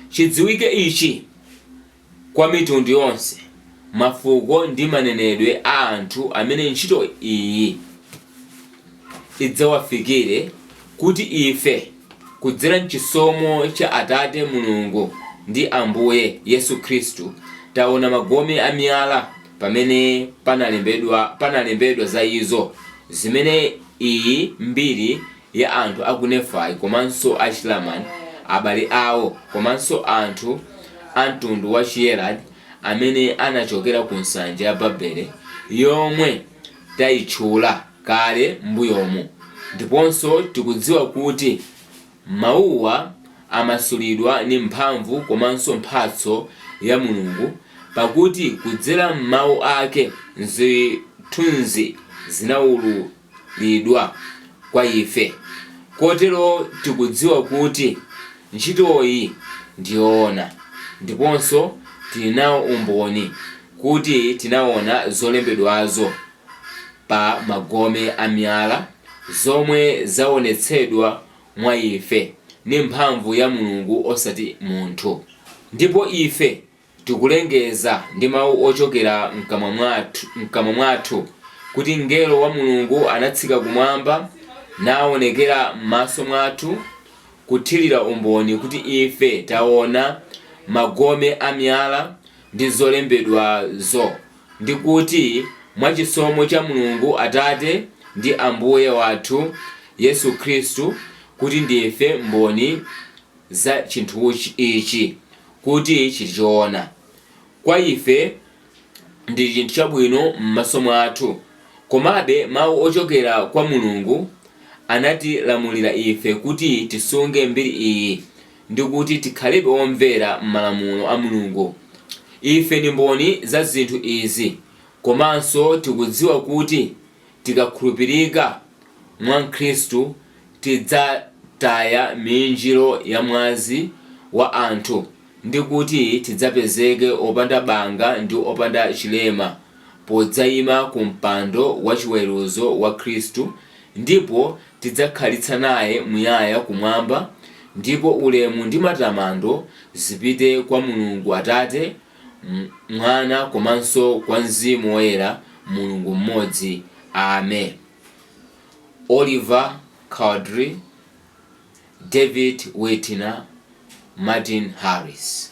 Chidziwike ichi kwa mitundu yonse, mafuko ndi manenedwe a anthu amene ntchito iyi idzawafikire, kuti ife, kudzera m'chisomo cha Atate Mulungu ndi Ambuye Yesu Khristu, taona magome a miyala pamene panalembedwa za izo, zimene iyi mbiri ya anthu a ku Nefai komanso a Chilamani, abale awo, komanso anthu a mtundu wa Chiyeredi amene anachokera ku nsanja ya Babele yomwe tayitchula kale m'mbuyomu. Ndiponso tikudziwa kuti mawuwa amasulidwa ndi mphamvu komanso mphatso ya Mulungu pakuti kudzera m'mawu ake, zithunzi zinaululidwa. lidwa kwa ife, kotero tikudziwa kuti ntchitoyi ndi yoona, ndiponso tili nawo umboni kuti tinaona zolembedwazo pa magome a miyala, zomwe zaonetsedwa mwa ife ndi mphamvu ya Mulungu osati munthu. Ndipo ife Tikulengeza ndi mawu ochokera mkamwa mwathu kuti mngelo wa Mulungu anatsika kumwamba nawonekera m'maso mwathu kuthirira umboni kuti ife taona magome a miyala ndi zolembedwazo ndi kuti mwa chisomo cha Mulungu Atate ndi Ambuye wathu Yesu Khristu kuti ndife mboni za chinthu ichi kuti n'choona kwa ife ndi chinthu chabwino m'maso mwathu, komabe Mau ochokera kwa Mulungu anatilamulira ife kuti tisunge mbiri iyi ndi kuti tikhalebe omvera m'malamulo a Mulungu. Ife ndi mboni za zinthu izi komanso tikudziwa kuti Tikakhulupirika mwa Khristu tidzataya miinjiro ya mwazi wa anthu ndi kuti tidzapezeke opanda banga ndi opanda chilema podzaima ku mpando wa chiweruzo wa Khristu ndipo tidzakhalitsa naye muyaya kumwamba ndipo ulemu ndi matamando zipite kwa Mulungu Atate Mwana komanso kwa Mzimu Woyera, Mulungu mmodzi. Ame. Oliver Cowdery David Whitmer Martin Harris.